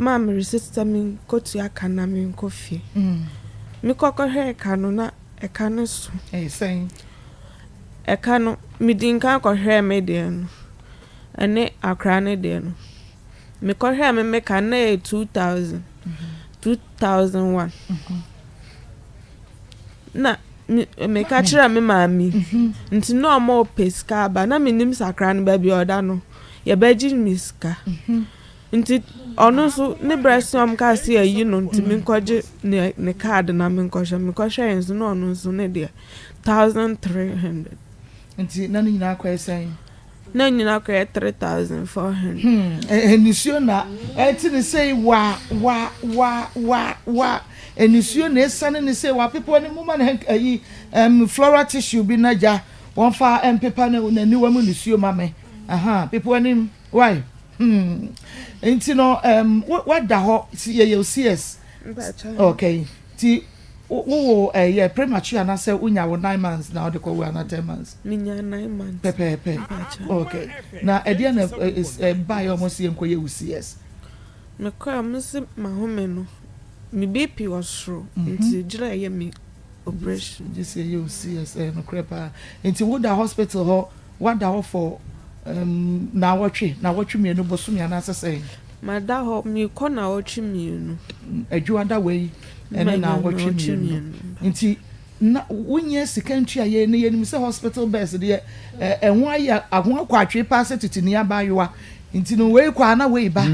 maa meresisi sɛ menkotua ka na menkɔ fie. Mekɔ kɔhwɛɛ ka no na ɛka no so. Ɛyɛ sɛn? Ɛka no, medi nkan kɔhwɛɛ me deɛ no ɛne akora no deɛ no. Mekɔhwɛɛ me me ka no na ɛyɛ two thousand, two thousand one. Na meka kyerɛ me maame nti na ɔma ɔpɛ sika aba na menim sakra no baabi a ɔda no yɛbɛgye me sika. Nti ɔno nso ne berɛ se ɔmkaa se ayi no nti menkɔgye ne ne card na menkɔhwɛ. Mekɔhwɛeɛ nso na ɔno nso ne deɛ thousand three hundred. Nti na ne nyinaa kɔyɛ sɛn? Na ne nyinaa kɔyɛ three thousand four hundred. Hmm, eh, nisuo na ɛte ne sei wa wa wa wa wa nisuo na ɛsane ne sei wapepa ne moma ne ayi um, floral tissue bi na gya wɔmfa mpepa ne n'aniwa mu nisuo ma me. Aha, pepa anim. Why? Hmm. Nti no, um, wada hɔ, yɛyɛ CS. Okay. Nti, wowɔ ɛyɛ eh, premature anaasɛ wonya wo nine months na wode kɔwo ana ten months? Menya nine months. Pɛpɛɛpɛ. Okay. Na ɛdeɛ na ɛbaeɛ eh, eh, ɔmo si yɛn kɔyɛ wo CS? Mekɔɛ ɔmo si mahome no, me BP wɔ soro, mhm. nti gyerɛ ɛyɛ me operation gye sɛ yɛ osi yɛ sɛ nokorɛ paa nti wo da hospital hɔ wada hɔ for um naawɔtwe naawɔtwe mmienu bosome anaasɛ sɛn. Mada hɔ mekɔ naawɔtwe mmienu. Adwua da wei ɛne naawɔtwe mmienu nti na wo nyɛ sika ntua yɛ na yɛnim sɛ hospital beds deɛ ɛho ayɛ ɛho akɔ atwee paa sɛ tete ni abaayewa nti no wei kɔ a na wei ba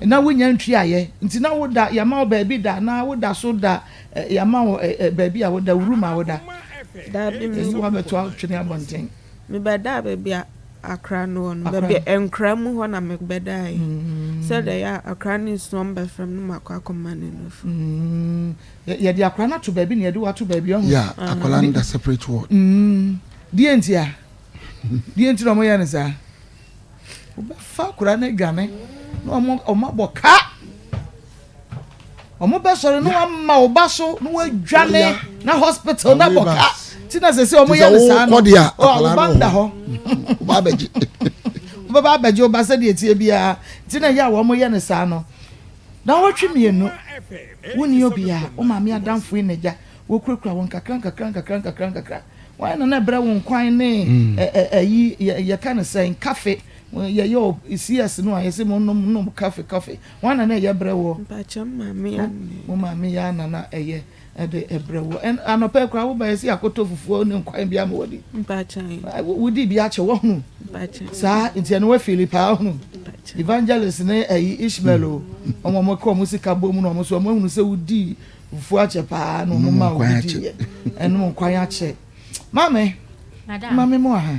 na wo nya ntua yɛ nti na wo da yɛma wo baabi da na wo da so da Ɛ, yɛama wo ɛ, ɛ, baabi a woda, wurum a woda. Akoma ɛpɛ. Daabi, me. Ɛyi woabɛto atwene abɔnten. Mebɛdaa baabi a akra no wɔ no, Akra. baabi a nkra mu hɔ na mebɛdaeɛ, Mm. sɛdeɛ ɛyɛ a akra no nsuom bɛ fam no makɔ akɔma no nufu. Mm. Yɛ, yɛde akwadaa no ato baabi na yɛde wo ato baabi, ɔho. Yeah, akwadaa no da separate ward. Mm. Deɛ nti a? Deɛ nti na wɔyɛ no saa? Wobɛfa akwadaa no adwane na wɔn, wɔabɔ ka. Ɔmo bɛ sɔre na wama wo ba so na wadwane na hospital na bɔ ka ti na sese ɔmo yɛ ne saa no ɔmo ba nda hɔ ɔba abɛgye ɔbɛba abɛgye ɔba sɛ deɛ tie biara ti na yɛ a wɔn yɛ ne saa no na wɔtwe mmienu wonni obiara wɔn maame adanfo yi na gya wɔkurakura wɔn kakra nkakra nkakra nkakra nkakra wɔn na na ɛbrɛ wɔn kwan ne ɛyi yɛka ne sɛn kafe yɛyɛ cs no a yɛsɛ mo nom nom kafe kafe Wan na na ɛyɛ brɛ woɔ? Mpakyɛ mo maame yɛ anna ɛyɛ. Mo maame yɛ anna na ɛyɛ ɛde ɛbrɛ woɔ. Ɛn anɔpa yi koraa wo ba yɛsi akoto fufuo ne nkwan bi ama wadi. Mpakyɛ. Wo di bi akyɛ wahunu. Mpakyɛ. Saa nti ɛno wa fili paa wahunu. Mpakyɛ. Evangelist ne ɛyi Ishmael o ɔmo ɔmo ka ɔmo sika bɔ mu na ɔmo so ɔmo ahunu sɛ wo di fufuo akyɛ paa na ɔmo ma wo bi di yɛ. Ɛnum nkwan akyɛ. Maame. Madam. Maame mo aha.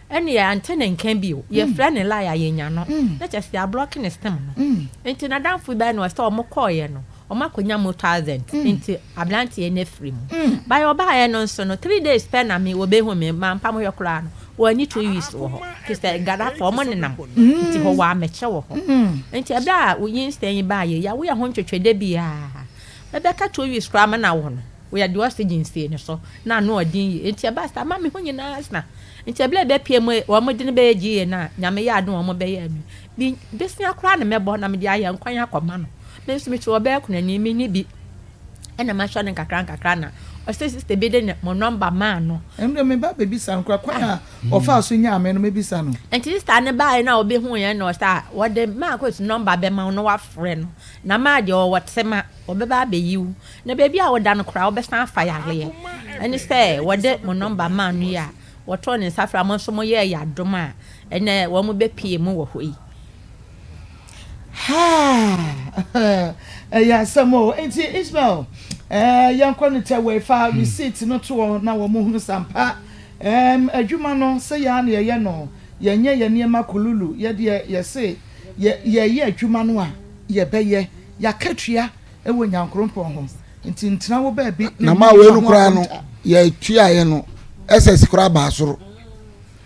Ɛne yɛante ne nka bio. Yɛfrɛ ne line a yɛnnya no. Na kyerɛ sɛ yɛablɔke ne sim no. Nti n'adamfo bɛyɛ no sɛ wɔkɔeɛ no, wɔakɔnya mu thousand. Nti aberanteɛ no afiri mu. By ɔbaeɛ no nso no, three days pɛ na me, wɔbɛhu me. Mampa mo hwɛ koraa no, wɔanni two weeks wɔ hɔ. Te sɛ Ghanafoɔ, wɔnenam nti hɔ wɔ amɛkyɛ wɔ hɔ. Nti ɛberɛ a wo nyinsɛn yi baeɛ yi, yɛawo yɛn ho ntwetwe da biara. Bɛbɛka two weeks koraa mena wo no. Woyɛ deɛ ɔse gyinsie no so na ano ɔden yie nti ɛbaa saa ma me ho nyinaa asna nti ɛberɛ ɛbɛpue mu wɔn de no bɛyɛ GA no a Nyame yɛ adom wɔn bɛyɛɛ no bi bosea koraa na mɛbɔ na mede ayɛ nkwan akɔ ma no me nso mete wɔ bɛɛ konani me ni bi ɛna mahwɛ no nkakra nkakra na ɔsɛ sister bi de ne mo nɔmba maa no Ɛno deɛ meba abɛbisa no koraa kwan a ɔfaa so nyaa me no mɛbisa no. Nti sister no baaɛ na ɔbɛhuuiɛ na ɔsɛ a wɔde Marcos nɔmba bɛma wo na wafrɛ no na maa deɛ ɔwɔ tema. Wɔbɛba abɛyi wo. Na baabi a woda no koraa wobɛsan afa yareɛ. Ɛne sɛ wɔde mo nɔmba maa no yi a, wɔtoo ne nsa frɛ a, mo nso moyɛɛ yɛn adom a, ɛnnɛ wɔbɛpue mo wɔ hɔ yi. Haa! Ɛyɛ asɛm o! Enti Ismael, eh, yɛnkɔ no tɛwɛe. Fa receipt no to wɔn na wɔnhunu sɛ ampa, ehm, adwuma no, sɛ yɛn ara na yɛyɛ no. Yɛnyɛ yɛn nneɛma kululu. Yɛn deɛ, yɛse yɛ, yɛreyɛ adwuma no a, yɛbɛyɛ. Y'akatua wɔ Nyankorompɔn hɔ, nti ntena wo baabi ne ho akonta. Na ma wei no koraa no, y'atuaeɛ no, SS koraa baa soro.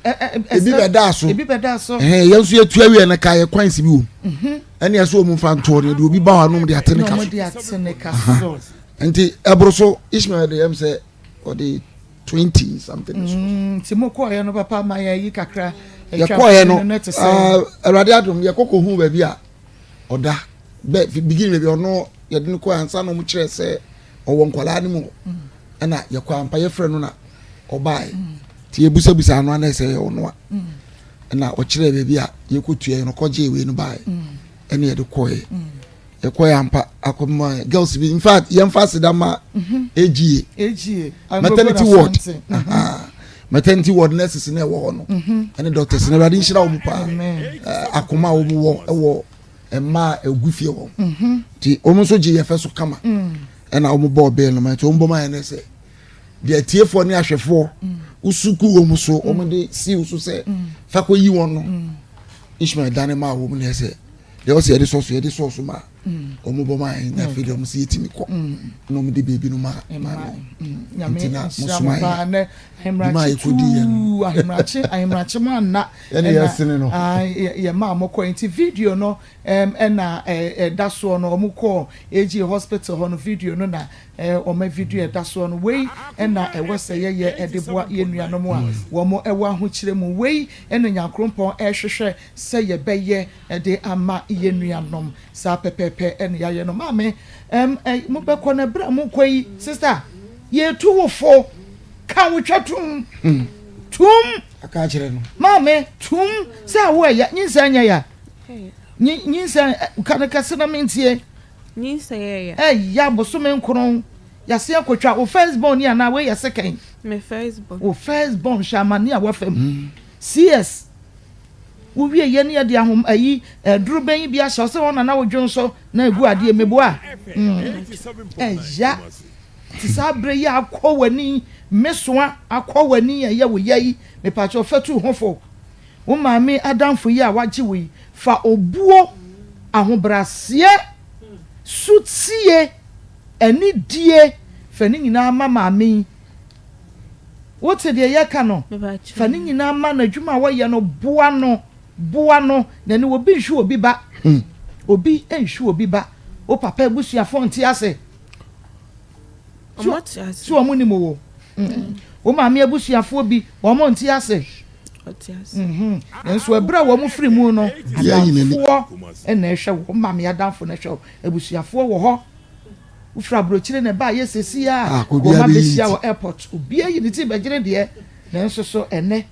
Ebi bɛdaa so. Ebi bɛdaa so. Ɛhɛn, yɛn nso y'atua wieɛ no kaa yɛ kwan si bi wɔ mu. Mhm. Ɛne ɛsɛ wɔn fa ntoɔ no, yɛde obi ba hɔ anom de ate ne ka so. Na wɔn de ate ne ka so. Nti ɛboro so, Ishmael de yɛm sɛ ɔde twenty something so. Mm, nti mo kɔɔeɛ no papa ma yɛyi kakra. Yɛkɔɔeɛ no, ah, Awurade adom, yɛkɔkɔ hu baabi a. ɔda bɛ beginning baabi ɔno yɛde no kɔ ansa na ɔmo kyerɛ sɛ ɔwɔ nkwadaa no mu hɔ ɛna yɛkɔ ampa yɛfrɛ no na ɔbaeɛ nti yɛbusabusa ano ana sɛ ɛyɛ ɔno a ɛna ɔkyerɛ baabi a yɛkɔtua yɛ no kɔgye wei no baeɛ ɛne yɛde kɔɛ yɛkɔɛ ampa akɔma girls bi infact yɛmfa aseda ma agie maternity ward mɛtɛ nti wɔ nurses na ɛwɔ hɔ no mhm. ɛne doctors na awurade nhyira wɔn paa akoma a wɔn wɔ ɛwɔ mmaa a egu fie wɔn mhm. ti wɔn nso gye yɛfɛ so kama mm. ɛna wɔn bɔ ɔbɛn no ma nti wɔn bɔ ma yɛn nɛsɛ deɛ tiefoɔ ne ahwɛfoɔ mm. wosuku wɔn so mm. wɔn de si so sɛ fakɔ yi wɔn no ishmael dane maa wɔn na ɛsɛ deɛ ɔsɛ yɛde sɔso yɛde sɔso maa. wɔn bɔ maa yɛn na afei deɛ wɔn sɛ yɛtumi kɔ na wɔn de biribi no ma maa no nti na mosoma yɛ ne maa yɛkɔdi yɛ no ahemrakye ahemrakye mu anna ɛna yɛsene no yɛ maa mo kɔ nti video no ɛna ɛda soɔ no wɔn kɔ AG hospital hɔ no video no na wɔn video ɛda soɔ no wei ɛna ɛwɔ sɛ yɛyɛ ɛde boa yɛn nuanom a wɔn ɛwɔ ahokyerɛ mu wei ɛna nyankorompɔn ɛhwehwɛ sɛ yɛbɛyɛ de ama yɛn nuanom. Saa pɛpɛɛpɛ na yɛayɛ no. Maame, ɛm, ɛ, mobɛkɔ na berɛ a mokɔ yi, sista, yɛretu wo fo. Ka wo twa tum. Hmm. Tum. Aka akyerɛ no. Maame, tum sɛ awo ɛya, nyinsɛn nyɛ ya. Nyi, nyinsɛn, ka no kɛse na mentie. Nyinsɛn ɛya. Ɛya, bosome nkron, yɛase akɔtwa. Wo first born ni anaa wei yɛ second? Me first born. Wo first born, hwɛ amane a woafa mu. Hmm. CS, Wowie yɛ ne yɛde ahom ayi eh dorobɛn yi bi ahyɛ ɔsɛ hɔ na na wo dwen so na egu adeɛ meboa mm ɛya te saa bere yi akɔ w'ani me soa akɔ w'ani ɛyɛ wo ya yi mepakyɛw fa tu ho fo wo maame adamfo yi a wagye wo yi fa obuo ahobraseɛ sotie anidie fa ne nyinaa ma maame yi Wote deɛ yɛka no? Fa ne nyinaa ma no, adwuma a wɔyɛ no, boa no, boa no, na ne obi nhwe obi ba. Obi nhwe obi ba. Wo papa abusuafoɔ nte ase. So wɔn nim wo? Wo maame abusuafoɔ bi, wɔn nte ase? Nanso ɛberɛ a wɔn firi mu no, adamfoɔ na ɛhwɛ wo, wo maame adamfo na ɛhwɛ wo, abusuafoɔ wɔ hɔ. Wofiri abrokyire na ɛbaayɛ sesie a wɔma bɛhyia wɔ airport obiara yi ne ti bɛgyere deɛ nanso so ɛnɛ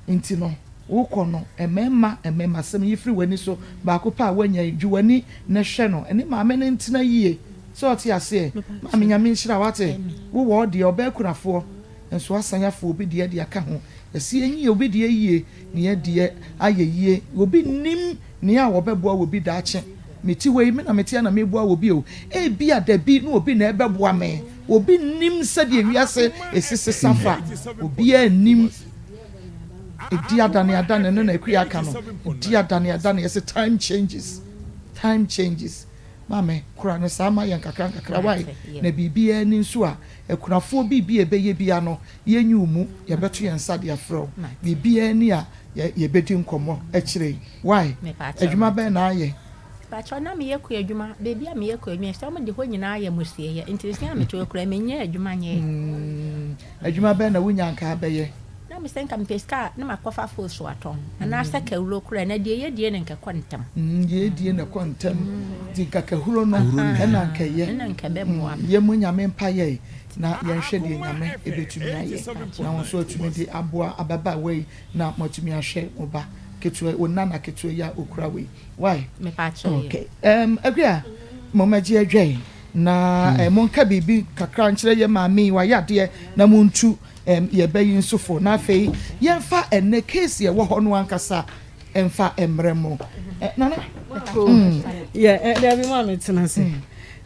nti no wokɔ no ɛmɛɛma ɛmɛɛma sɛm yi firi wani so baako pɛ a woanya yi dwi wani na hwɛ no ɛne maame no ntena yie sɛ ɔte aseɛ maame nyame nhyira wate wo wɔ deɛ ɔbɛ akunafoɔ nso asan afu obi deɛ de aka ho yɛse yɛnyi obi deɛ yie ne yɛ deɛ ayɛ yie obi nnim Nea wɔbɛboa wɔ bi daakye. Me ti wei, me na mete ha na meboa wɔ bi o. Ebia da bi na obi na ɛbɛboa me. Obi nnim sɛdeɛ wiase ɛsi sesa fa. Obiara nnim. Ɛdi adane adane no na Akua ka no. Ɛdi adane adane ɛse time changes. Time changes. Ma me kora no saa ma yɛn nkakrankakra wai na biribiara ni nso a akunafoɔ biribi a ɛbɛyɛ bi a no yɛnyi wo mu yɛbɛto yɛn nsa de afrɛ wo biribiara ni a yɛbɛdi nkɔmmɔ akyire yi wai adwuma bɛn na ayɛ Pakyɛ na meyɛ kɔ adwuma baabi a meyɛ kɔ adwuma ɛsɛ wɔn de hɔ nyinaa yɛ mo sieɛ nti nsia a metoɔ kura menyɛ adwuma nyɛɛ. Mm. Adwuma bɛn na wunya anka abɛyɛ? Na me sɛ nka mepɛ sika a na makɔ fa fo so atɔn anaa sɛ kahuro koraa na deɛ yɛ die na nka ɛkɔ ntɛm. Mm deɛ yɛ die na ɛkɔ ntɛm nti nka kahuro no ɛna nka ɛyɛ. Ɛna nka ɛbɛboa me. Yɛ mu nyame mpa yɛi na yɛnhwɛ deɛ nyame ɛbɛtumi ayɛ na wo nso atumi de aboa ababaawa yi na mo atumi ahwɛ mo ba ketewa wo nana ketewa yi a okura wei wai. Mepaakyɛw yɛ. Okay um Agua momma gye adwa yi. Na monka biribi kakra nkyerɛ yɛn maame yi, wayɛ adeɛ, na montu yɛn ba yi nso fo. Na afei yɛmfa ɛnnɛ case a ɛwɔ hɔ no ankasa mfa mmerɛ mo. Nana. Dabi maame tena ase.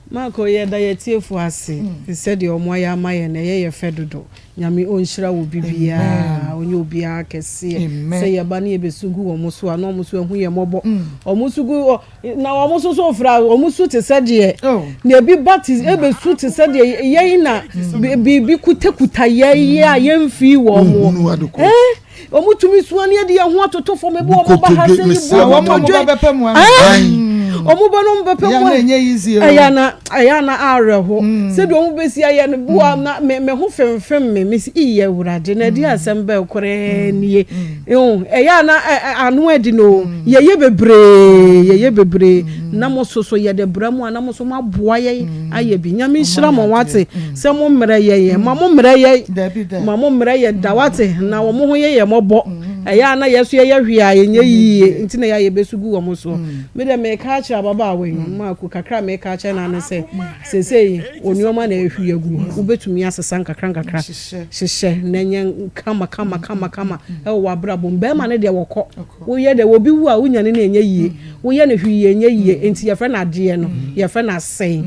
Marco yɛda yɛatiefo ase sɛdeɛ wɔn ayɛ ama yɛn no ɛyɛ yɛ fɛ dodo. Nyame ɔnhyira wo bibiaa, ɔnyɛ obiaa kɛseɛ. Sɛ yɛba ne yɛbɛsu gu wɔn so a na wɔn nso ahu yɛn mmɔbɔ. Wɔn nso gu. Na wɔn nso so fra, wɔn su te sɛ deɛ, na ebi ba te, ebesu te sɛ deɛ yɛn na biribi kutakuta yɛn a yɛmfii wɔn mo. Ɛɛ, wɔn tumi sua ne adi yɛn ho atoto fam, ebi wɔn ba ha sɛ yi bu wɔn mo dwe. Wɔn ba no wɔn bɛpɛ mu a, ɛyɛ na ɛyɛ na awerɛho. Sɛdeɛ wɔn bɛsi ayɛ no boa na me me ho femfem me, me si iyɛ awurade na ɛde asɛm bɛɛ korɛ nie. Ew ɛyɛ a na ano ɛden no o yɛyɛ bebree yɛyɛ bebree na mo so so yɛde bra mu a na mo so mo aboa yɛn ayɛ bi nyame nhyira mo wate sɛ mo mmerɛ yɛn ma mo mmerɛ yɛn ma mo mmerɛ yɛn da wate na wɔn ho yɛ yɛn mɔbɔ ɛyɛ a na yɛ so yɛyɛ hwee a yɛnyɛ yie nti na yɛ a yɛbɛsu gu wɔn so me deɛ meka akyerɛ ababaawa yi maako kakra meka akyerɛ no ane sɛ sesei onuama na ɛhwie agu wobɛtumi asesa nkakra nkakra Hyehyɛ na nyɛ kama kama kama kama wɔ w'abrabɔ mu. Bɛrima no deɛ wɔkɔ. Woyɛ dɛ obi wu a wonya no no ɛnyɛ yie. Woyɛ no hwee ɛnyɛ yie. Nti yɛfrɛ no adeɛ no yɛfrɛ no asɛe.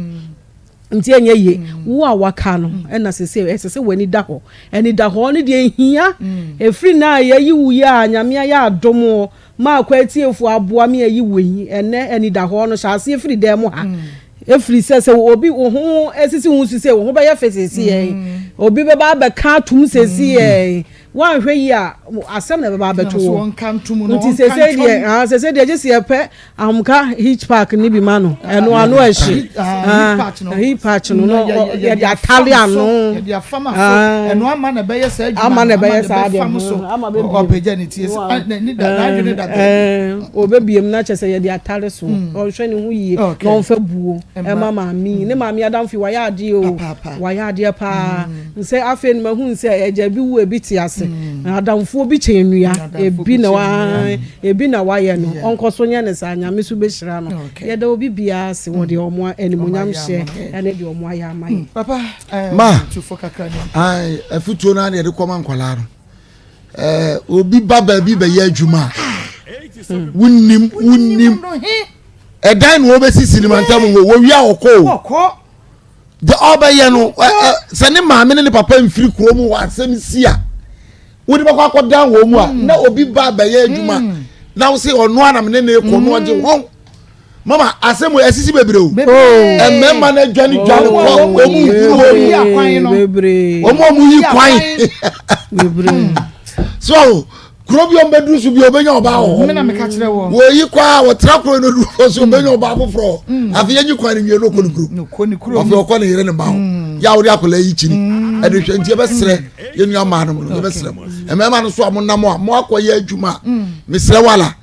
Nti ɛnyɛ yie. Wo a waka no ɛna sese ɛsɛ sɛ w'ani da hɔ. Anidahɔ no deɛ ɛhia. Ɛfiri na yɛayi wo yi a Nyame ayɛ adom o maa kwa atiefo aboa me ayi wɔ yi ɛnɛ anidahɔ no hyɛ aseɛ firi dan mu ha ɛfiri sɛ sɛ obi wo ho asisi ho su sɛ wo ho bɛyɛ fɛ sɛsiɛ obi bɛba abɛka atom sɛsiɛ woanhwɛ yi a asɛm na ɛbɛba abɛto wo nti sɛsɛ deɛ ah, sɛsɛ deɛ gye seɛ pɛ ahomka hitch park ne bi ma no ɛno ano ɛhye Eyi pa akyi no, no yɛde atare ano. Yɛde afam aso. Ɛno ama na ɛbɛyɛ saa adwuma. Ama na ɛbɛyɛ saa adeɛ. Ama na ɛbɛfam so. Ama bɛbiem. Ɔpagya ne ti. N'ani da n'adwene da baabi. Ɔbɛbiem na kyerɛ sɛ yɛde atare so. Ɔnhwɛ ne ho yie. Na ɔmfa buo ma maame yi. Ne maame adamfo yi wayɛ adeɛ o. Wayɛ adeɛ paa. Sɛ afei no mahunu sɛ agya bi wu ebi te ase. Adamfoɔ bi kyɛ nnua. Ebi na wayɛ no. Ɔnkɔ so nyɛ no saa. Nyame nso bɛhyira no. Yɛda obi biara ase wɔ deɛ wɔn animuonyam hyɛ ɛne deɛ wɔn ayɛ ama yɛn. Papa, ma ayi afutuo naa na yɛde kɔma nkwadaa no. Ɛɛ obi ba baabi bɛyɛ adwuma a, wunim wunim ɛdan na wɔbɛsi sinima ntam wo wɔwia ɔkɔ o. de ɔbɛyɛ no sɛ ne maame ne ne papa mfiri kuro mu wɔ asɛm si a wode bɛkɔ akɔdan wɔn mu a mm. na obi ba bɛyɛ adwuma mm. na wo se ɔno anam ne ne kɔ no ɔgye wɔn mama asɛm yɛ sisi bebree o mmarima na dwane dwane kɔ wɔn mu nkuru wɔn mu wɔn mu yi kwan so kuro bi ɔn bɛduru so bi ɔbɛnya ɔbaa wɔ hɔ wɔyi kɔ a wɔtra kuro no duru hɔ so ɔbɛnya ɔbaa foforɔ mm. afei yɛnyi kwan no nwie no ɔkɔ ne kuro afei ɔkɔ ne yere ne ba hɔ mm. yɛ a wɔde akɔla yi kyini mm. ɛde hwɛ nti yɛbɛsrɛ yɛnua maa no mu no yɛbɛsrɛ mu mmarima no so a mo nam a mo akɔ yɛ adwuma mesrɛ wala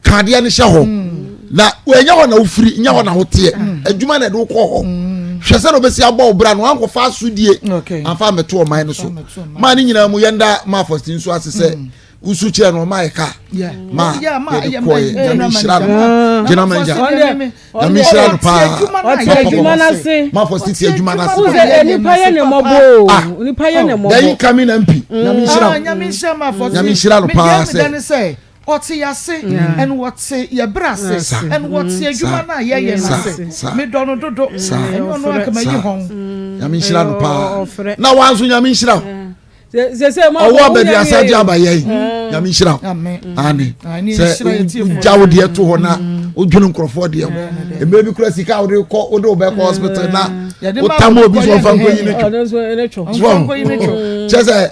ka adeɛ no hyɛ hɔ mm. na ɛnyɛ hɔ na wofiri nyɛ hɔ na woteɛ mm. adwuma na ɛde wokɔ hɔ mm. hwɛ sɛ na obɛsi abɔ wo bra no wankɔfa asodie amfa mmɛto ɔman no so maa ne nyinaa mu yɛnda ma afɔsti nso ase sɛ wusu kyerɛ no ɔma yɛ kaa ma yɛde kɔ yɛ nyame nhyira no gyina ma ngya nyame nhyira no paa ma fɔ sisi adwuma no ase nipa yɛ ne mmɔbɔ o nipa yɛ ne mmɔbɔ dɛyi kami na mpi nyame nhyira no nyame nhyira no paa sɛ Wɔte yɛn ase, and wɔte yɛn bere ase, and wɔte adwuma no a yɛyɛ no ase. Medɔ no dodo. Ɛnyɛ ɔno a anka mayi hɔn. Nyame nhyira no paa. Na wa nso Nyame nhyira wo. Ɔwɔ baabi asa de aba yɛn. Nyame nhyira wo. Amen. Sɛ wogya wo deɛ to hɔ na wodwene nkurɔfoɔ deɛ ho. Mmerɛ bi kura sika a wode kɔ wode wobɛkɔ hospital na wotam obi so ɔmfa nkɔyi ne twom. Kyerɛ sɛ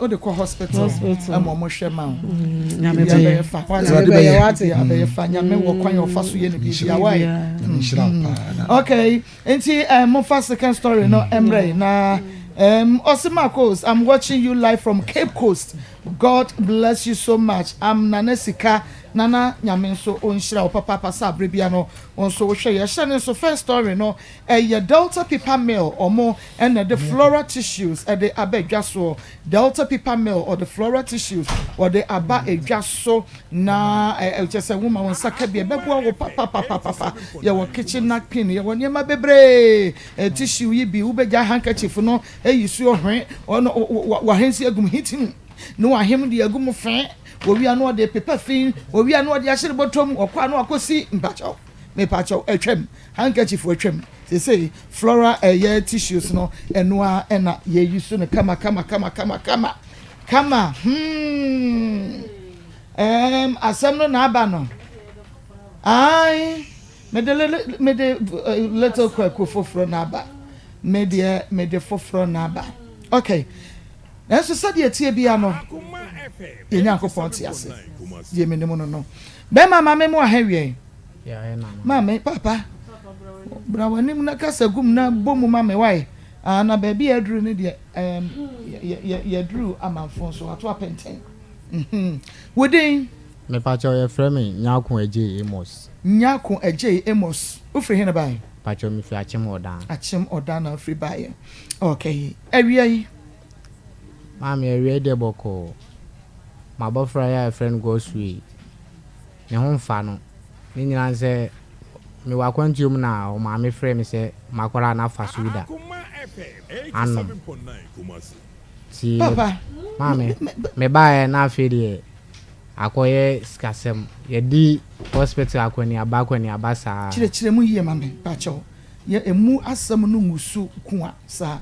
o de kɔ hospital ɛma ɔmo hwɛ ma o biribi abɛyɛ fa biribi abɛyɛ fa nyame wɔ kwan ɔfa so yɛ ne biribi awa yi okay nti ɛɛ mo fa second story no ɛmrɛ yi na ɛɛm ɔsi marcos i'm watching you live from cape coast god bless you so much i'm nana sika nana nyame nso ɔnhyira wo papaapa sɛ abere bia no nso wohwɛ yɛ hyɛ ne nso first story no Ɛyɛ Delta Paper Mill ɔmo na ɛde floral tissues de aba dwa soɔ. Delta Paper Mill ɔde floral tissues ɔde aba dwa so na ɛ kyerɛ sɛ woma wo nsa ka bi ɛbɛboa wo papapapapa. Yɛwɔ kitchen napkin, yɛwɔ nneɛma bebree. Ɛ tissue yi bi wobɛgya handkerchief no ayi suo hwe ɔno wo wo wa wahensi agu mu heat mu na wahem de agu mu fe. Wɔwie a na wɔde pepa fi, wɔwie a na wɔde ahyere bɔtɔ mu, wɔkɔ a na wɔakɔsi mpakyɛw. mepakyɛw atwam, handkerchief atwam, seesei flora a ɛyɛ tissues no ɛno ara na yɛyi so no kama kama kama kama kama kama hmm ɛɛm asɛm no na aba no ae mede mede eh, little kwaku foforɔ na aba me deɛ mede foforɔ na aba okay Nanso sɛdeɛ ɛteɛ biara no, yɛn Nyankopɔn te ase. Deɛ menim no no. Bɛrima, ma me mmoa ha awiɛn. Maame, Papa, bra w'anim na kasa gu mu na bɔ mu ma me, wae? Ah, na baabi a aduru no deɛ, ɛɛm, yɛaduru amanfo so, wɔato apɛntɛn. Mhmm. Wo din? Mepakyɛw, wɔfrɛ me Nyarko Agyei Amos. Nyarko Agyei Amos. Wofiri he na baeɛ? Mepakyɛw, mefi Akyem Ɔdan. Akyem Ɔdan na wofiri baeɛ. Okay. Awia yi. Maame, awia yi deɛ bɔkɔɔ. M'abɔfra yi a yɛfrɛ no Godswill yi, ne ho mfa no. Ne nyinaa ne sɛ, mewɔ akwantuo mu na ɔmaame frɛɛ me sɛ makɔra a na fasuda anom. Nti maame, mebaeɛ na afei deɛ akɔyɛ sikasɛm. Yɛadi hospital akɔneaba akɔneaba saa. Kyerɛkyerɛ mu yie ma me, pakyɛw. Yɛ ɛmu asɛm no ngusu kua saa.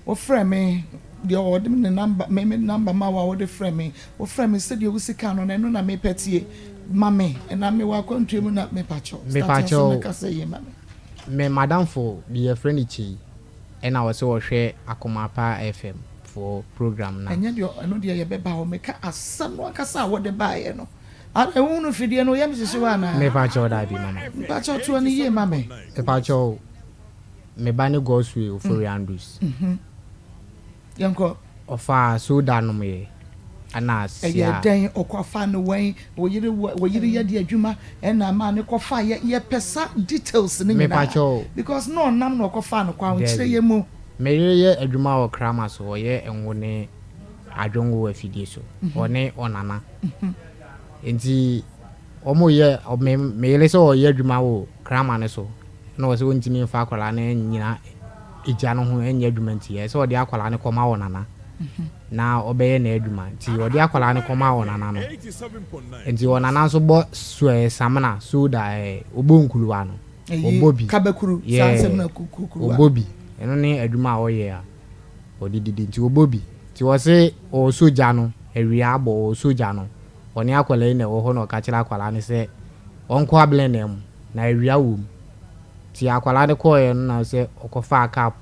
Wofrɛ me, deɛ ɔde me ne number, me me number ma wo a wode frɛ me, wofrɛ me sɛdeɛ wosi ka no no, ɛno na mepɛ tie, ma me, ɛnam mewɔ akwantuo mu na mepakyɛw start asɛm no kasa yie ma me. Me madamfo bi yɛfrɛ no Kyei ɛna ɔse ɔhwɛ Akoma Pa FM foɔ program no a. Ɛnyɛ deɛ ɛno deɛ yɛbɛba hɔ, meka asɛm no ankasa a wode baeɛ no, adɛn wohunu fidie no woyɛ me hyehyewa anaa? Mepakyɛw daabi mama. Mepakyɛw toa no yie ma me. Mepakyɛw. Me ba ne Godswill Ofori Andrews. Yɛnkɔ. Ɔfaa soda nom yɛ ɛna sia. Ɛyɛ dɛn ɔkɔ fa no wɛn wo yere wo yere yɛ de adwuma ɛna ama ne kɔ fa yɛ yɛ pɛ sa details ne nyinaa because na ɔnam na ɔkɔ fa no kɔ a nkyerɛ yɛ mu. Me yere yɛ adwuma wɔ Kraman so ɔyɛ ngo ne adwongo afidie so ɔne ɔnana nti. Wɔyɛ me yere sɛ ɔyɛ adwuma wɔ Kraman no so na ɔsɛ ɔntumi mfa akwadaa no nnyina agya no ho nyɛ adwuma nti ɛyɛ sɛ ɔde akwadaa no kɔma ɔnana na ɔbɛyɛ n'adwuma nti ɔde akwadaa no kɔma ɔnana no nti ɔnana nso bɔ suɛ samina soda ɛɛ ɔbɔ nkuluwa no ɔbɔ bi kabakuru saa nsɛm na kukuruwa ɔbɔ bi ɛno ne adwuma a ɔyɛ a ɔde didi nti ɔbɔ bi nti ɔse ɔwɔ sogya no awia abɔ ɔwɔ sogya no Ɔne akwadaa yi na ɛwɔ hɔ na ɔka kyerɛ akwadaa no sɛ ɔnkɔ ablenaa mu na awia wɔ mu. Nti akwadaa no kɔeɛ no na sɛ ɔkɔfaa cup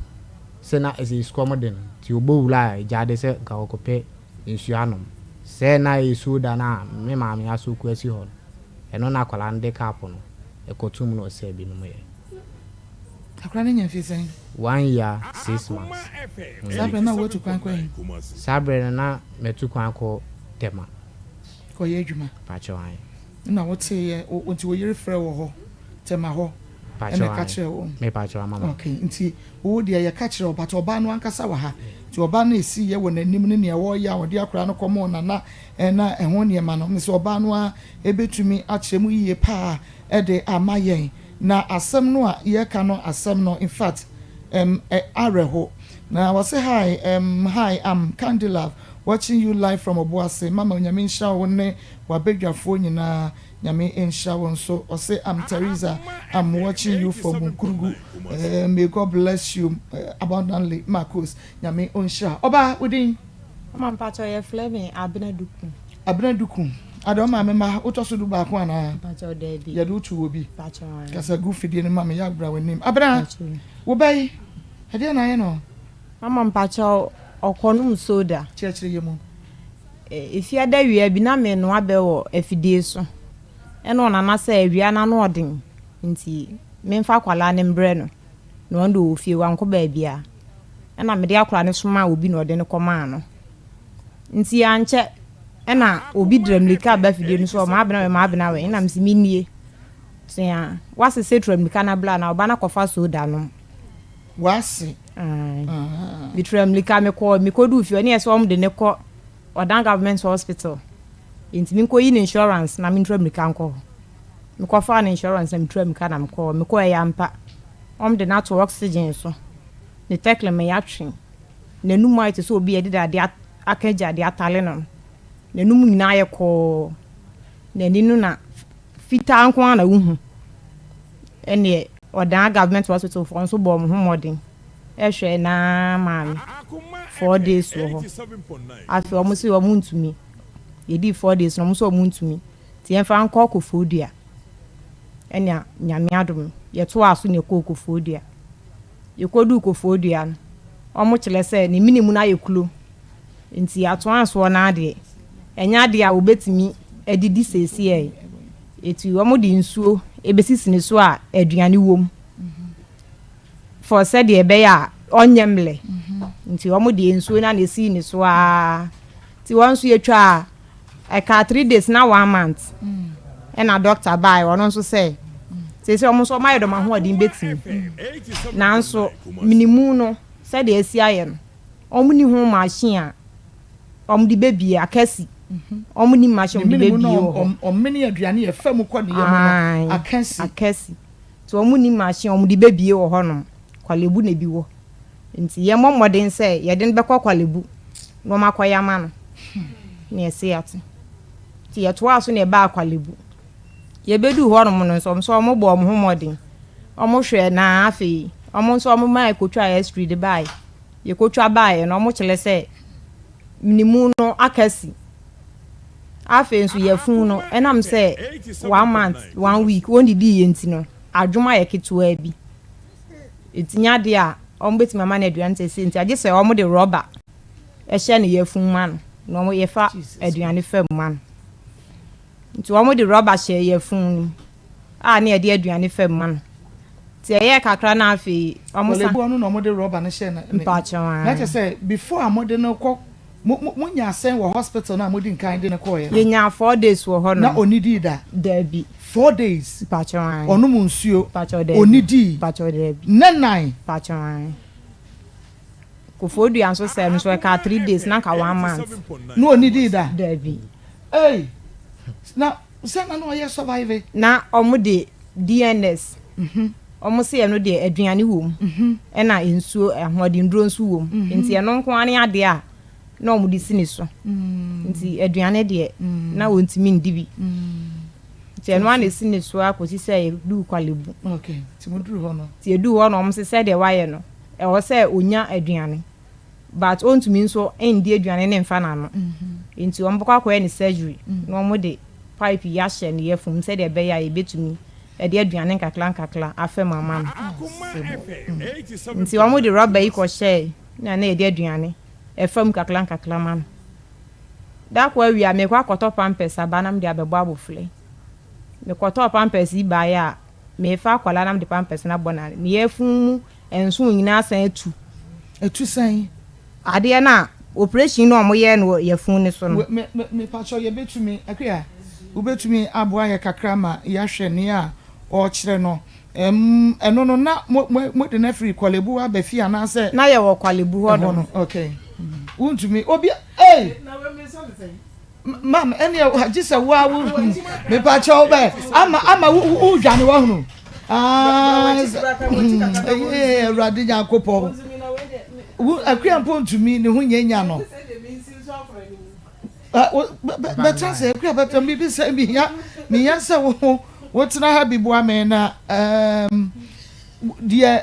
sɛ na ɛsɛ sukɔm de no nti ɔbɔ wura a gya de sɛ nka ɔkɔpɛ nsuo anom. Sɛ na ɛyɛ suo da no a me maame asɔ kuo asi hɔ no ɛno na akwadaa no de cup no kɔtoom na ɔsɛɛ bi nomeeɛ. Akora no nya mfe sɛn? One year six months. Saa berɛ no na woatu kwan kɔ he? Saa berɛ no na matu kwan kɔ Tema. Kɔyɛ adwuma? Mpakyɛw ae. Nna woteeɛ nti wo yere frɛɛ wo wɔ hɔ Tema hɔ ɛna ɛka kyerɛɛ wo? Mpakyɛw ae. Mepakyɛw ama ma. Ok, nti wo deɛ yɛka kyerɛɛ wo but ɔbaa no ankasa wɔ ha nti ɔbaa no a ɛsiiɛ wɔ n'anim ne nea wɔyɛ a wɔde akora no kɔmoo Nana na ɛho nneɛma no mesɛ ɔbaa no ara bɛtumi akyerɛ mu yie paa de ama yɛn Na asɛm no a yɛ ka no asɛm no infact em ɛ awerɛho na wɔ se hi em hi am candylove watching you live from ɔboase mama nyame nhyira wo ne wabadwafoɔ nyinaa nyame nhyira wo nso ɔse am Theresa am watching you from nkurugu em may God bless you em abundantly Marcos nyame ɔnhyira ɔbaa wo din. Mama mpakyɛw yɛfrɛ me Abena Duku. Abena Duku. Ada, wo maame mma wotɔ so du baako anaa? Mpakyɛw, Dabi. Yɛde wo too obi. Mpakyɛw, Aane. Kasa gu fidie no ma me, Yaw bra w'anim. Abena, Mpakyɛw. Wo ba yi, ɛdeɛn na ayɛ no? Mama, Mpakyɛw, ɔkɔ nom soda. Kyerɛkyerɛ yɛ mu. Ɛfie adawia bi, na menoa bɛ wɔ afidie so. Ɛna ɔnana sɛ awia no ano ɔden nti memfa akwadaa no mbrɛ no na ɔno deɛ ɔwɔ fie, wankɔ baabiara. Ɛna mede akwadaa no somaa obi na ɔde no kɔmaa no. Ntsi ankyɛ na obi dra mbirika ba fidie no so hɔ, Maabena wɛ, Maabena wɛ, nna mese, Mennie. Tsea. W'ase se tra mbirika na bla na ɔba na kɔfa soda nom. W'ase. Ae. Ahaa. Metra mbirika mekɔɔ, mekoduu fie hɔ ne yɛ se wɔmde no kɔ Ɔdan Government Hospital, ntsi menkɔyi no insurance na mentra mbirika nkɔ hɔ. Mekɔfaa no insurance na metra mbirika na mekɔɔ hɔ. Mekɔɔɛ ampa, wɔmde no ato oxygen so, ne tɛklem yɛatwe. N'anom ayɛ te sɛ obi a yɛde dade aka agyade atare no. N'anom nyinaa ayɛ kɔɔ. N'ani no na fitaa nko ara na wohu. Ɛnneɛ, ɔdan government hospital foɔ nso bɔɔ me ho mmɔden hwɛɛ n'aa maa me. Four days wɔ hɔ. Afei wɔn se wɔn ntumi. Yɛdii four days no, wɔn nso wɔn ntumi. Nti yɛmfa nkɔ Koforidua. Ɛnna Nyame adom no, yɛtoaa so na yɛkɔɔ Koforidua. Yekoduu Kofoɔ Dua no, wɔn kyerɛ sɛ ne mene mu no ayɛ kuro, nti yɛatoaa soɔ no ara deɛ, ɛnyɛ adeɛ a wɔbɛtumi de di seesei. Eti wɔde nsuo bɛsisi ne so a aduane wɔ mu for sɛdeɛ ɛbɛyɛ a ɔnyɛ mmrɛ, nti wɔn deɛ nsuo no ara na ɛsii ne so ara, nti wɔn nso yɛtwaa. ɛkaa three days na one month ɛna doctor baa ɔno nso sɛ sese ɔmo nso ɔmo ayɛ dɔm ahoɔden betumi nanso minimu no sɛdeɛ esi ayɛ no ɔmo ni ho machine a ɔmo de bebie akɛse ɔmo ni machine ɔmo de bebie wɔ hɔ ɔmene aduane yɛ fam kɔ ne yam no akɛse akɛse nti ɔmo ni machine ɔmo de bebie wɔ hɔ nom kwalebu na ebi wɔ. Nti yɛmmɔ mmɔden sɛ yɛde no bɛkɔ Kwalebu na wɔakɔyɛ ama no. Nea ɛsɛ yɛate. Nti yɛtoaa so na yɛbaa Kwalebu. Yɛbɛduu hɔnom no nso, wɔn nso wɔbɔɔ wɔn ho mmɔden. Wɔhwɛɛ na afei wɔn nso wɔmaa yɛkɔtwaa X-ray de baeɛ. Yɛkɔtwa baeɛ no, wɔkyerɛ sɛ ne mu no aka si. Afei nso yafunu no, ɛnam sɛ one month, one week, wɔndidiiɛ nti no, adwom ayɛ ketewaa bi. Etinya deɛ a, wɔbɛtumi ama no aduane seesei nti a, gye sɛ wɔde rɔba hyɛ ne yafunu ma no, na wɔfa aduane fa mu ma no. Nti wɔde rɔba hyɛ yafunu no mu a na yɛde aduane fa mu ma no. Nti ɛyɛɛ kakra na afei wɔsan. Wɔleboa no na wɔde rɔba no hyɛ ne. Mpakyɛw aa. Na kyerɛ sɛ before a wɔde no kɔ. Mo, mo, mo nyaa sɛn wɔ hospital no a modi nkan de no kɔɔɛ no? Yɛnyaa four days wɔ hɔ nom. Na ɔnnidii da? Daabi. Four days? Mpakyɛw, aane. Ɔnom nsuo? Mpakyɛw, daabi. Ɔnnidii? Mpakyɛw, daabi. Nnɛ nnan? Mpakyɛw, aane. Kofoɔdua nso sɛm nso, ɛkaa three days, na anka one month. Na ɔnnidii da? Daabi. Ei! Na Sɛ na na ɔyɛ survive. Na ɔmo de DNS ɔmo se ɛno deɛ aduane wɔ mu ɛna nsuo ahoɔdennuro nso wɔ mu nti ɛno nko ara ne adeɛ a na ɔmo de si ne so nti aduane deɛ na ɔntumi ndi bi nti ɛno ara na esi ne so ara kɔsi sɛ yɛduu Kwalebu nti yɛduu hɔ no ɔmo se sɛdeɛ wayɛ no ɛwɔ sɛ ɔnya aduane. but ɔntumi nso ndi aduane ne mfa n'ano nti wɔbɛkɔ akɔyɛ ne surgery na wɔde pipe yi ahyɛ ne yafum sɛdeɛ ɛbɛyɛ a yɛbɛtumi ɛde aduane nkakra nkakra afam ama no nti wɔde rɔba yi kɔhyɛe na na yɛde aduane ɛfam nkakra nkakra ma no da kɔ awia mekɔ akɔtɔ pampers aba na mede abɛbɔ abɔfra yi mekɔtɔɔ pampers yi baeɛ a mefa akwadaa na mede pampers no abɔ na ne yafum mu Nso onyina asan atu. Atu sɛn? Adeɛ no a operation no a ɔmo yɛɛ no wɔ yafunu no so no. Me me mepakyɛw yɛbɛtumi Akua wobɛtumi aboa yɛ kakra ma yɛahwɛ nea ɔrekyerɛ no ɛm ɛno no na mo mo mode no afiri Kwalebu aba fie anaasɛ. Na yɛwɔ Kwalebu hɔ nom. Ɛhɔ no okay wontumi obi ei. Na wei me nsa te sɛn. mam ɛneɛ gye sɛ wo a wohunu mepa kyɛ wo bɛ ama ama wodwane wahunu awurade nyankopɔn akua mpo ntumi ne ho nyɛ nya no bɛtra sɛ akua bɛtra biribi sɛ mehia mehia sɛ wo ho wotena ha bi boa me na deɛ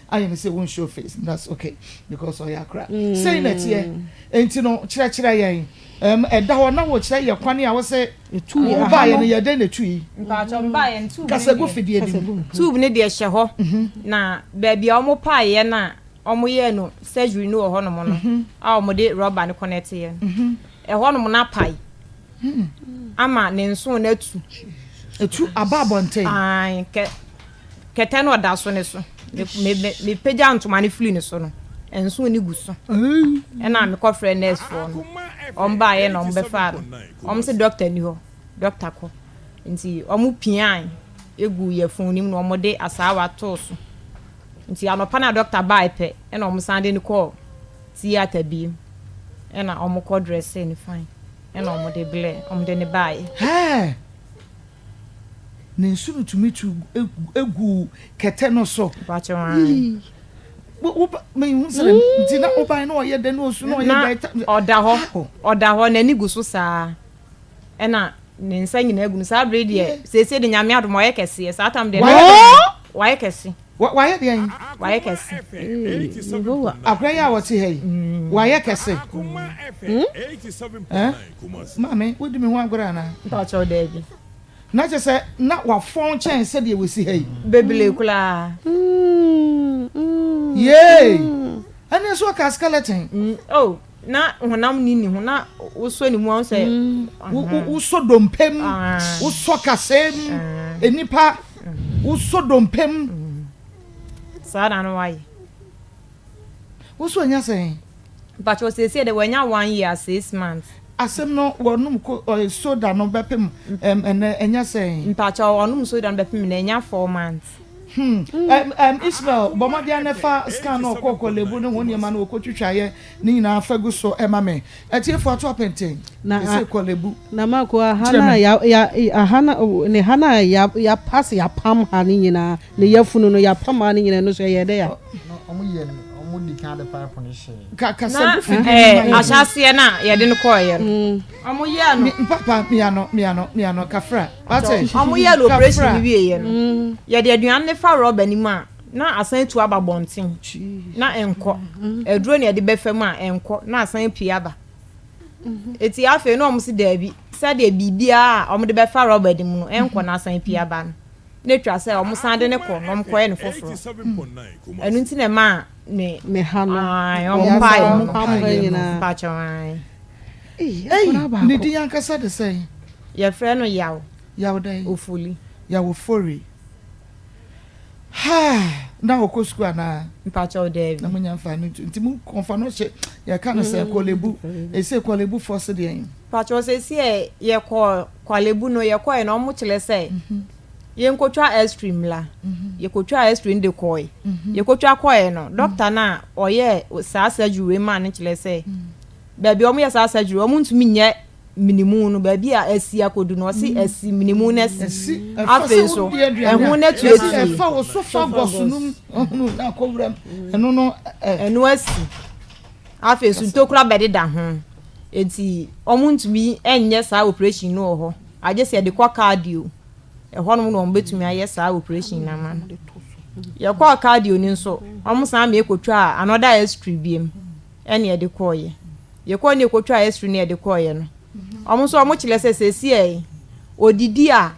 Ayɛ no sɛ won show face no that's ok because ɔya koraa sei na ɛteɛ enti no kyerɛkyerɛ yɛn ɛm ɛda hɔ na wokyerɛ yɛ kwane a wose wobaeɛ no yɛ dɛn na ɛtui kasa gu fidie bi mu tube no deɛ hyɛ hɔ na baabi a wɔn paa yɛ no a wɔn yɛ no surgery no wɔ hɔnom no a wɔn de rɔba no connect yɛ no ɛhɔnom no apae ama ne nso no atu etu aba abɔnten. Kɛtɛ no a ɔda so no so. Mepagya ntoma no firi ne so no, nso no gu so. Ɛna mekɔfrɛ nɛɛsfoɔ no. Wɔn baeɛ na wɔbɛfaa no. Wɔn se dɔkta ni hɔ, dɔkta kɔ. Nti wɔn piae egu yɛ fon no mu na wɔn de asaawa too so. Nti anɔpa na dɔkta baeɛ pɛ ɛna wɔn san de no kɔɔ theatre biem. Ɛna wɔn kɔ dressee no fine. Ɛna wɔn de blɛ, wɔn de no baeɛ. Hɛɛ! Na nsu no tumi tu gu kɛtɛ no so. Mehu sɛ nti na wobae na ɔyɛ dɛ na osu na ɔyɛ dɛ. Na ɔda hɔ ɔda hɔ n'ani gu so saa ɛna ne nsa nyinaa gu no saa bere deɛ seesei de nyame adom ɔyɛ kɛseɛ saa tam deɛ wayɛ kɛse. Wa, wayɛ deɛn? Wayɛ kɛse. Ee, Yehowa. Akora yi a wɔte ha yi, wayɛ kɛse. Ɛ? Maame, wodi me ho agorɔ anaa? Mpakyɛw, daabi. Na kyerɛ sɛ, na wafɔn kyɛn sɛdeɛ wasi ha yi. Bebree koraa. Yee! Ɛnneɛ so ɔkaa skeleton. Mm, oh. na honam nni ne ho na wosɔ ne mu a sɛ mm. wosɔ dompe mu ah. wosɔ kasɛɛ mu ah. nnipa mm. wosɔ dompe mu mm. saa na no wayɛ wosɔ anya sɛn mpakyɛ ɔsiesie dɛ wanya one year six months asɛm no wɔnom soda no bɛpem ɛnɛ ɛnya sɛn mpakyɛ ɔnom soda no bɛpem na ɛnya four months Hmm. Ɛm, ɛm, Isabel, bɔ mmɔden ara na fa scan no ɔkɔ ɔkɔ lebu ne ho nneɛma no wɔkɔtwitwaeɛ no nyinaa fa gu so ma me. Atiefoɔ ato apenten. Na a, Ɛsɛ kɔ lebu. na Marco, a ha Kyerɛ no a me. ya, ya, a ha no, o, ne ha no a ya, ya pass, ya pam ha no nyinaa, ne yafunu no, ya pam ha no nyinaa, ɛno nso ɛyɛɛ dɛ a? Ɔ, No, ɔmo yɛ no, ɔmo di kan de pipe no hyɛɛ. ka, kasa Na gu fidie no ma ɛɛ, yɛn. ahyɛaseɛ no a yɛde no kɔeɛ no, Mm. wɔyɛɛ no. Me, mpapa, mia no, mia no, mia no, kafra. Wɔyɛɛ no oprehyɛn no wieeɛ no, yɛde aduane no fa rɔba no mu a, na asan atu aba abɔnten. Na ɛnkɔ. Aduro na yɛde bɛfa mu a, ɛnkɔ. Na asan apue aba. Eti afei na wɔn se daabi, sɛdeɛ biribiara a wɔde bɛfa rɔba no mu no, ɛnkɔ na asan apue aba no, na ɛtwa sɛ wɔsan de no kɔ na wɔkɔyɛ no foforɔ. Ɛno nti na ɛmaa ne. Meha no. Ae, wɔn mpaeɛ no. Wɔn mpaeɛ nyinaa. Mpakyɛw ae. Ei, ne din ankasa de sɛn? Yɛfrɛ no Yaw. Yaw dɛn? Ofori. Yaw Ofori. Ha! Na ɔkɔ sukuu anaa? Mpakyɛw, daabi. Na monya mfa no nti mo kɔnfa no hyɛ yɛka no sɛ Kɔlebu. Ɛsɛ Kɔlebu fɔ se deɛn? Mpakyɛw, sɛsi ɛ yɛkɔ Kɔlebu no yɛkɔɛ no ɔmo kyerɛ sɛ yɛnkɔtwa X-ray mmra. Yɛkɔtwaa X-ray no de kɔɛ. Yɛkɔtwa kɔɛ no, dɔkta no a ɔyɛɛ saa surgery wei maa no kyerɛ sɛ. baabi a wɔyɛ saa surgery wɔn ntumi nyɛ minimu no baabi a asi akodu no ɔsi mm. asi minimu no asi afei nso ɛho no atu asi ɛfa wɔ sofa gɔso no mu ɔhunu na akɔwura mu mm. ɛno no ɛno asi afei nso ntokura bɛde da ho eti wɔn ntumi nyɛ saa operation no wɔ hɔ agye sɛ yɛde kɔ cardio ɛhɔ nom na wɔn betumi ayɛ saa operation na ama no yɛkɔɔ cardio no nso wɔn san mmiɛ kotwa another x-ray biem. ɛne ɛde kɔɔeɛ. Deɛ ɛkɔɔ ne ɛkɔtwaa Esri ne ɛde kɔɔeɛ no, wɔn nso wɔn kyerɛ sɛ seesei yi, ɔdidi a,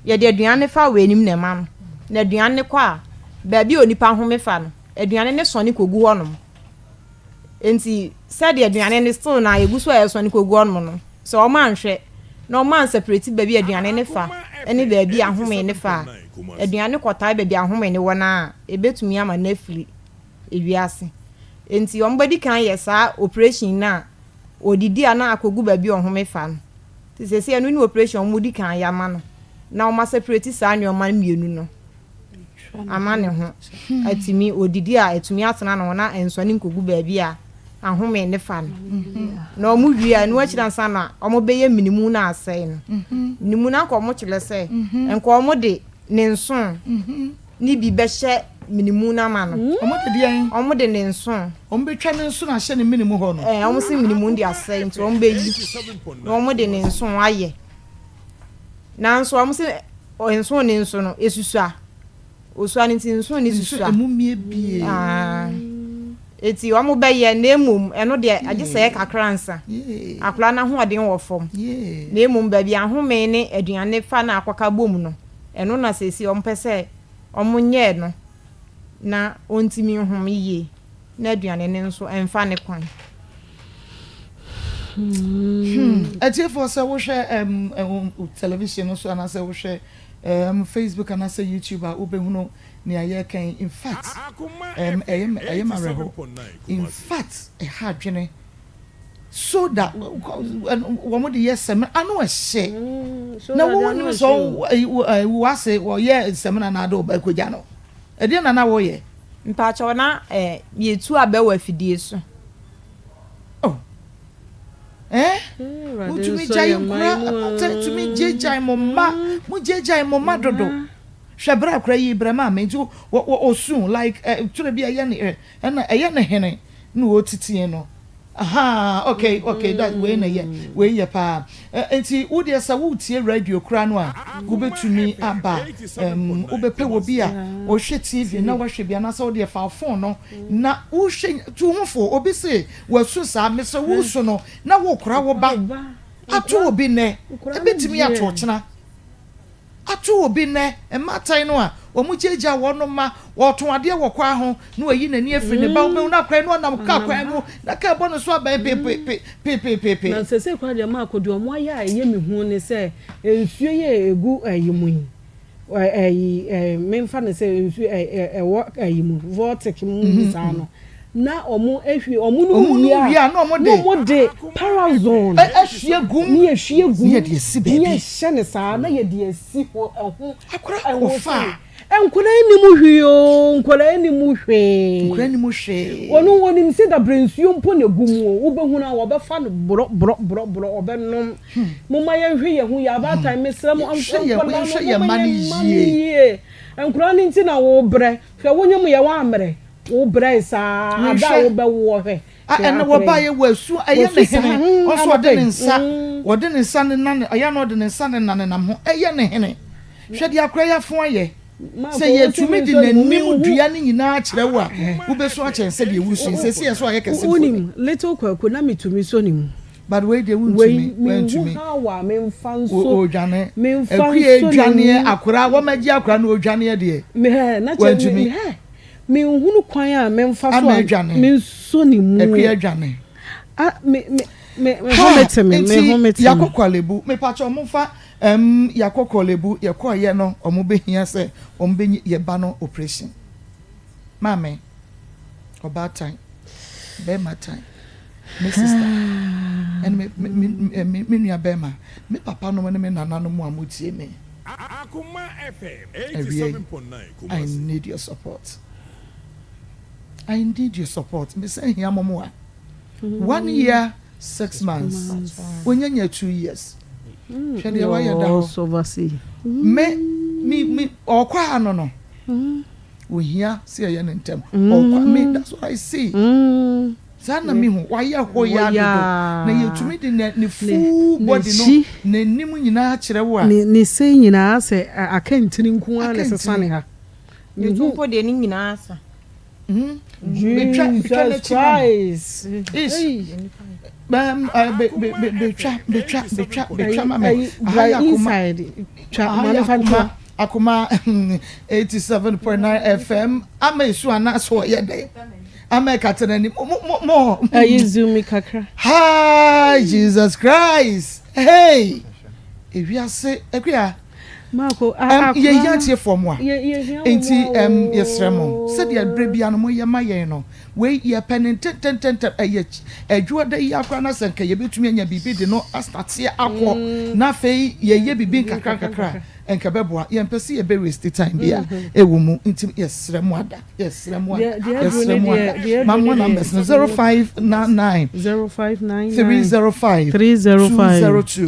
yɛde aduane no fa wɛnim na ɛma no, na aduane no kɔ a, baabi a onipa home fa no, aduane no sɔne kɔgu hɔ nom. Enti sɛdeɛ aduane no still na ɛgu so a ɛresɔne kɔgu hɔ nom no, sɛ wɔn anhwɛ na wɔn ansaprɛti baabi a aduane no fa ne baabi a ahome no fa a, aduane no kɔtae baabi a ahome no wɔ no a, ɛbɛtumi ama no afiri. ewiase. Enti wɔbedi kan yɛ saa oprehyɛn no a, wɔdidi a na akogu baabi a wɔhome fa no. Nti seesei ɛno ne oprehyɛn a wɔdi kan yɛ ama no, na wɔasepreti saa nneɛma no mmienu no ama ne ho atumi, odidi a atumi atena ne ho na ɛnsɔne nkogu baabi a ahome no fa no. Na wɔwie a, ɛno akyiri ansa na wɔbɛyɛ minimu no asɛe no. Minimu no anka wɔkyerɛ sɛ nka wɔde ne nsõ no bi bɛhyɛ mene mu no ama no. Wɔn de deɛn? Wɔn de ne nsono. Wɔn bɛtwa ne nsono ahyɛ ne mene mu hɔ no. Ɛɛ, wɔn se mene mu de asɛe nti wɔn bɛyi na wɔn de ne nsono ayɛ. Nanso wɔn se nsono ne nso no esusua. Osua ne nti nsono ne susua. Nso emu mie bie. Aa. Eti wɔn bɛyɛ na emom ɛno deɛ agye sɛ ɛyɛ kakra nsa. Akwadaa no ahoɔden wɔ fam. Na emom baabi ahome ne aduane fa na akɔka bom no. Ɛno na seesei wɔpɛ sɛ wɔnyɛ no na ontumi nhom yiye na aduane no nso mfa ne kwan. Hmm. Atiefo, sɛ wohwɛ um, um, television no so anaasɛ wohwɛ um, Facebook anaasɛ YouTube a wobɛhunu nea yɛreka yi. In fact, um, ɛyɛ, ɛyɛ ma awerɛhow. In fact, ɛha adwene. Soda wɔn de yɛ samina ano ɛhyɛ. Mm, na wo nim sɛ wo ase wɔyɛ samina na ade ɔba akogya no. Ɛdeɛ na na wɔyɛ. Mpakyɛw na eh, yɛtu abɛ wɔ afidie so. Oh. Eh? Mm, Motumi gyae nkura atɛ tumi gyegyae mo mma. Mm. Mo gyegyae mo mma dodo. Hwɛ bra kora yi brɛ maa me nti ɔsu like eh, twerɛ bi ɛyɛ ne eh, ɛna ɛyɛ ne hene. na wɔtitiɛ no ahaa okay okay that wei na yɛ wei yɛ paa ɛ nti wo deɛ sɛ wo tie radio koraa no a wo bɛ tumi aba ɛm wo bɛ pɛ wɔ bi a ɔhwɛ TV na wahwɛ bi anaasɛ wo deɛ fa wo phone no na wo hwɛ tu ho fo obi se wa su saa mesrɛ wo su no na wo kora wo ba ato obi nnɛ ɛbɛ tumi ato ɔkyena. ato obi nnɛ, mmatan no a wɔgyaagyaa wɔn no ma ɔretõ adeɛ wɔ kwan ho na wayi n'ani afiri ne ba, wobɛhu no akwan na ɔnam kaa kwan mu na kaa bɔ ne so abɛn pepepepepepe. Na seesei koraa deɛ Marco, deɛ wɔayɛ a ɛyɛ me hu ne sɛ, nsuo yi a ɛgu ayi mu yi, ayi, memfa no sɛ nsuo ɛwɔ ayi mu, vortic mu saa no, Na wɔahwie wɔn no mu wie a, na wɔde parazon ahwie gu mu, na yɛhwie gu mu, na yɛhyɛ no saa, na yɛde asi hɔ ɛho. Akora wɔfa a. Nkwadaa nnim hwee oo, nkwadaa nnim hwee. Nkwadaa nnim hwee. Wɔn wɔnim sɛ dabere nsuo mpo na egu mu o, wobɛhunu a wɔbɛfa no borɔ borɔ borɔ borɔ wɔbɛnom. Hmm. Moma yɛnhwɛ yɛn ho yɛ abaatan hmm. mesrɛ mo nkwadaa no moma yɛn mma no yie. Nkwadaa no nti na wɔbrɛ, hwɛ wonyam yɛ wɔammerɛ. Wo brɛe saa ara bere a wobɛwoɔ hwɛ. Hwɛ ara koraa yi. Wasu saa. Ɛyɛ ne hene. Ɔsɛ ɔde ne nsa. Ɔde ne nsa ne na ne. Ɛyɛ na ɔde ne nsa ne na ne nam ho. Ɛyɛ ne hene. Hwɛ deɛ akora yi afo ayɛ. Sɛ yɛtumi de n'anim dua no nyinaa kyerɛ wo a, wobɛsu akyɛn sɛdeɛ woresu yi. Seesei ɛsɛ sɛ ɔyɛ kɛse mpo nnɛ. Little Kwaku, na metumi sɔ ne mu. But wei deɛ wontumi. Wei, menhu how a memfa nso. O, odwane. Memfa nso ne mu. Akua adwaneɛ, akora, wɔagye akora no, odwaneɛ deɛ. Mehɛ, na kyɛ, mehɛ. Menhunu kwan a memfa so a mensɔ ne mu. Ɛkwi adwane. A me me me me ho me te me me ho me te me. Yakɔ Korlebu mepatwɔ ɔmo fa ɛm yakɔ Korlebu yɛ kɔɔ yɛ no ɔmo bɛ hia sɛ ɔmo bɛ nyi yɛ ba no operation maame ɔbaatan. bɛrima tan me sista ɛne me me me eh, me me nua bɛrima me papa nom ne me nana nom a mo tie me. Akoma FM eighty seven point nine Kumasi. I need your support I need your support me sɛ hia mo moa one year six months wonya nya two years hwɛ deɛ wayɛ da hɔ me me me ɔkɔ ano no. Ohia sɛ yɛyɛ no ntɛm. Ɔkwa me that's what I see. Saa na me hu. Wayɛ hoyaa dodo. Na yɛtumi de ne ne full body no n'anim nyinaa kyerɛ wo a. Ne ne se nyinaa sɛ akantini nko ara na ɛsesa ne ha. Me hu. Mpo deɛ ne nyinaa asa. Betwa betwa n'akyi ma me. Jesus Christ. Betwa betwa betwa betwa ma me. Aha yɛ akoma. Aha yɛ akoma. Akoma eighty seven point nine FM ama esu ana so ɔyɛ dɛ ama ɛkata n'anim mo mo mo. Ɛyi zoom mi kakra. Hi Jesus Christ hey ewiase akuya. Marco akora no yɛhia atiefoɔ mo a nti yɛsrɛ mo sɛdeɛ berɛ bia no moyɛ ma yɛn no wei yɛpɛ ne ntɛntɛntɛntɛm ɛyɛ adwuada yi akora no sɛ nka yɛbɛtumi anya biribi de no astateɛ akɔ na afei yɛyɛ biribi nkakra nkakra Nka ɛbɛboa. Yɛmpɛ sɛ yɛbɛ waste time bia ɛwɔ mu nti yɛsrɛ mo ada, yɛsrɛ mo ada, yɛsrɛ mo ada. Mamoa numbers no, zero five nine nine three zero five two zero two.